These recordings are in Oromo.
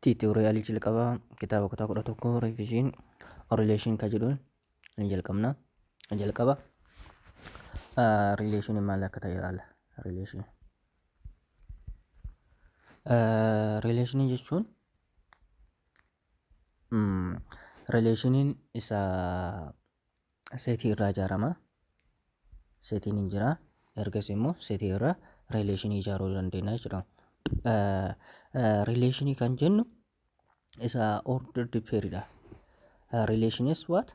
Tiitoriyaalii jalqabaa kitaaba kutaa kudha tokko revision relation ka jedhuun ni jalqabna. Jalqaba relation maal akka ta'e ilaala. Relation. Relation jechuun relationiin isa seetii irraa ijaarama. Seetiin hin jira. Ergasii immoo seetii irraa rileeshinii ijaaruu dandeenya jechuudha. Rileeshinii kan jennu isa order dippeeridha. Relation is what?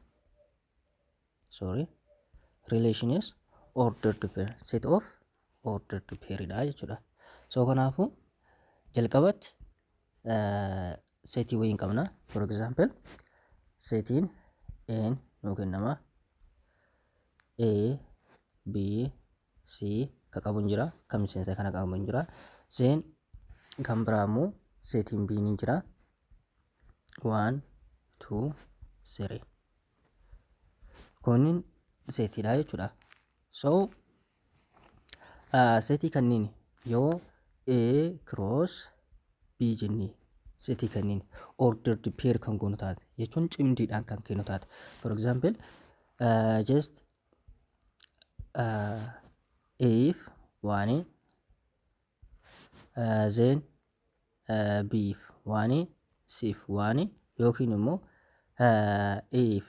Sorry. Relation is order dippeer. Set of order dippeeridha jechuudha. So kanaafuu jalqabatti seetii wayii hin qabna for example seetiin een nuu kennama a b c ka qabu hin jira kan miseensa kana qabu hin jira seen kan biraa immoo seetiin b ni jira waan tuu siree kunniin seetiidha jechuudha so Seetii kanniin yoo A cross B jennee seetii kanniin ordered pair kan goonu taate jechuun cimdiidhaan kan kennu taate. For example, uh, just uh, if one A, uh, then uh, B if one A, C if one A yookiin immoo uh, A if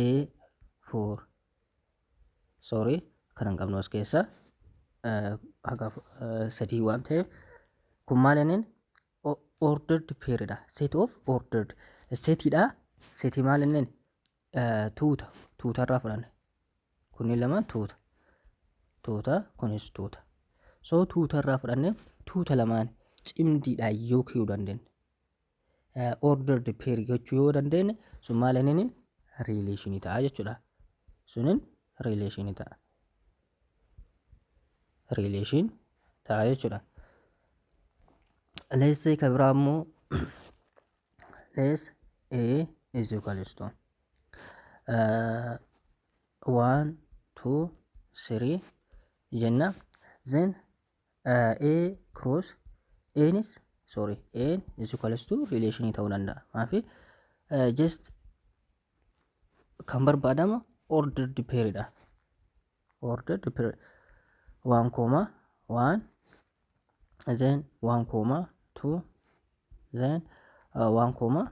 A for sorry kan hin qabnu as keessa haga sadii waan ta'eef kun maal jenneen ordered pair dha set of ordered seti dha seti maal jenneen tuuta tuuta irraa fudhanne kunniin lamaan tuuta tuuta kunis tuuta so tuuta irraa fudhanne tuuta lamaan cimdiidhaan yoo kiyuu dandeenye order the pair gochuu yoo dandeenye sun maal inni relation ta'a jechuudha sunin relation ta'a relation ta'a jechuudha let's say ka biraa immoo let's a is equals to uh, one two three jenna then A cross Anis sorry An is equals to relation ta'uu danda'a. Maafi just kan barbaadama ordered pair dha. Ordered pair waan koomaa waan then waan koomaa two then uh, waan koomaa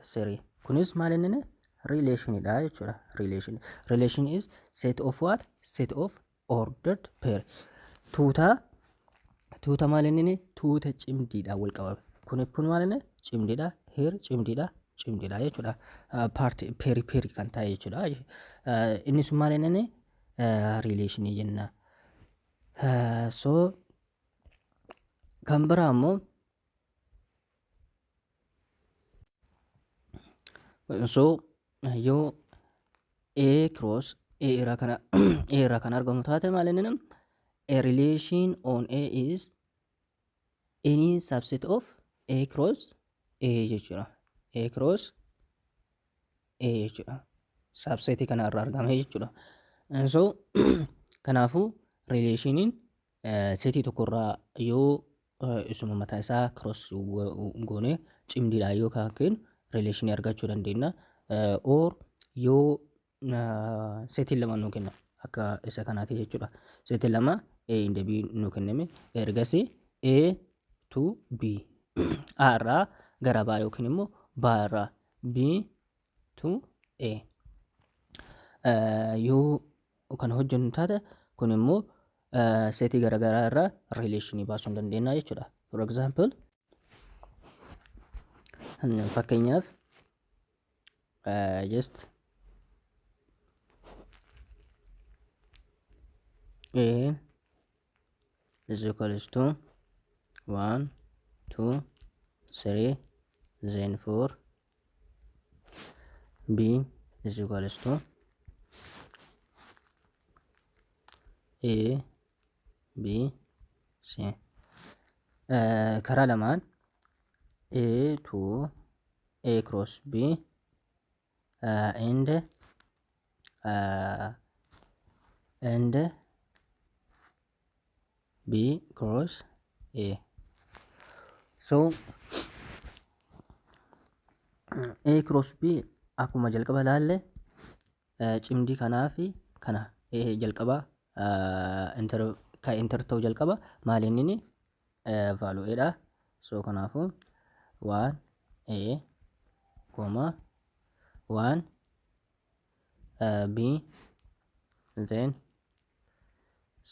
three. Kunis maal inni relation dha jechuudha. Relation relation is set of what set of ordered pair tuuta tuuta maal inni tuuta cimdiidhaan wal qabame kuniif kun maal inni cimdiidha heer cimdiidha cimdiidha jechuudha paarti peeri peeri kan ta'e jechuudha inni sun maal inni riileeshinii jenna so kan biraa immoo so yoo a cross a irraa kana a irraa kan argamu taate maal inni nam a relation on a is any subset of a cross a jechuudha a cross a jechuudha subset kana irraa argame jechuudha so kanaafuu relationin Seetii tokkorraa yoo isuma mataa isaa cross goone cimdiidhaan yoo kan keenyu relation argachuu dandeenya. Or yoo seetiin lama nuu kenna akka isa kanaati jechuudha. Seetiin lama A and B nuu kenname ergasi A to B A irraa gara baa yookiin immoo baa irraa B to a yoo kan hojjennu taate kun immoo seetii garaagaraa irraa rileeshinii baasuu dandeenya jechuudha. For example fakkeenyaaf just a is equals to 1 2 3 then 4 b is equals to a b c Eh, karaa lamaan a to a cross b uh, and uh, and B cross A. So A cross B akkuma jalqaba ilaalle eh, cimdii kanaa fi kana eh, jalqaba eh, inter, ka inter ta'u jalqaba maaliin inni eh, value A dha. So kanaafu 1 A, comma 1 B then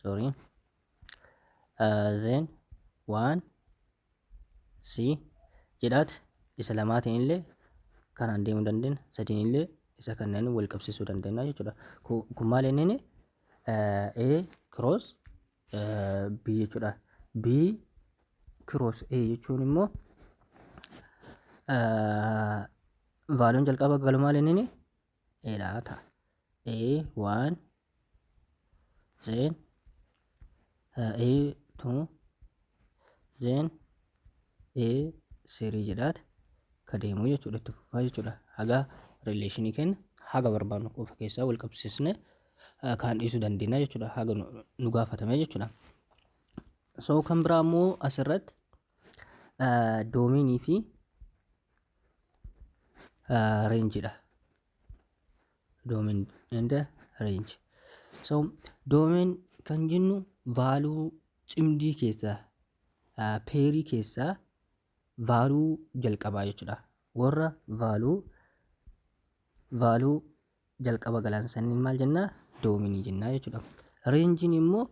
sorry then waan si jedhaat isa lamaatiin illee kanaan deemuu dandeenya sadiin illee isa kanneen wal qabsiisuu dandeenya jechuudha kun maal inni A cross B jechuudha. B cross A jechuun immoo vaaliyoon jalqaba galu maal inni A dha ta'a. A one then A two then ee seerii jedhaat ka deemuu jechuudha itti fufaa jechuudha haga rileeshinii kenna haga barbaannu qofa keessaa wal qabsiisne kaan dhiisuu dandeenya jechuudha haga nu gaafatame jechuudha. So kan biraa immoo asirratti doomiinii fi reenjiidha. Doomiin and reenji. So doomiin kan jennu vaaluu cimdii keessaa peerii keessaa vaaluu jalqabaa jechuudha. Warra vaaluu vaaluu jalqaba galan sanniin maal jennaa doominii jennaa jechuudha. Reenjiin immoo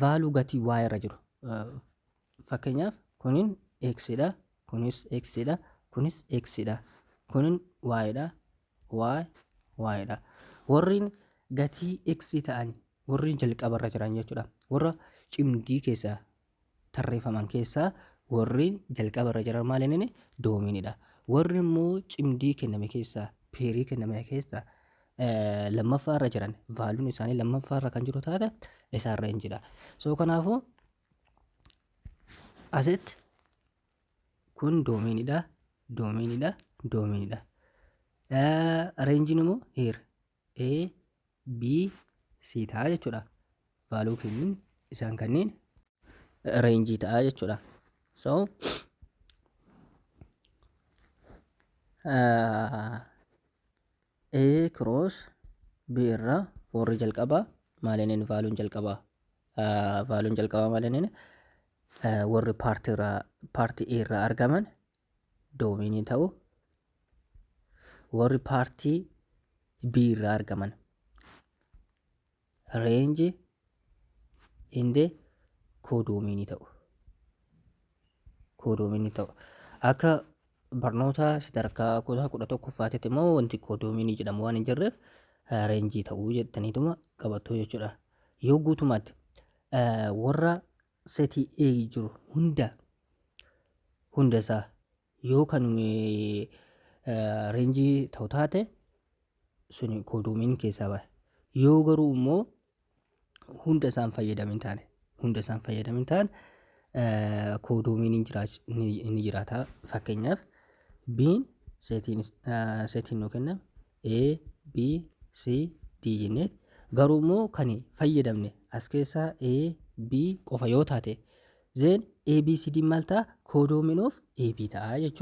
vaaluu gatii waa irra jiru. Fakkeenyaaf kunin x dha, kunis x dha, kunis x dha, kunin y dha, y y dha. Warreen gatii x ta'an Warri jalqabarra jiran jechuudha. Warra cimdii keessaa tarreeffaman keessaa warri jalqabarra jiran maal inni doomiinidha. Warri immoo cimdii kenname keessaa peerii kenname keessaa eh, lammaffaarra jiran vaaluun isaanii lammaffaarra kan jiru taate isaan reenjidha. So kanaafuu aset kun doomiinidha doomiinidha doomiinidha. Eh, Reenjiin immoo hiir A, B, C ta'a jechuudha. Value kennuun isaan kanneen range ta'a jechuudha. So uh, A cross B irraa warri jalqabaa maalineen vaaluun jalqabaa uh, vaaluun jalqabaa maalineen uh, warri paartii irraa paartii A irraa argaman doomiinii ta'u Warri paartii B irraa argaman range in the codomiinii ta'u. Codomiinii ta'u. Akka barnoota sadarkaa kutaa kudha tokkoffaatitti immoo wanti codomiinii jedhamu waan hin jirreef reenjii ta'uu jettaniituma qabattu jechuudha. Yoo guutummaatti warra setii A jiru hunda hunda isaa Yoo kan reenjii ta'u taate suni koodoomiin keessaa bahe. Yoo garuu immoo hunda isaan fayyadame hin taane hunda isaan fayyadame hin taane koodoomiin hin jiraach- ni- ni jiraata fakkeenyaaf biin seetiin is- ah, seetiin nuu kenname A, B, C, D jennee garuu immoo kan fayyadamne as keessaa A, B qofa yoo taate zeen A, B, C, D maal ta'a? Koodoomiin of A, B ta'a jechuudha.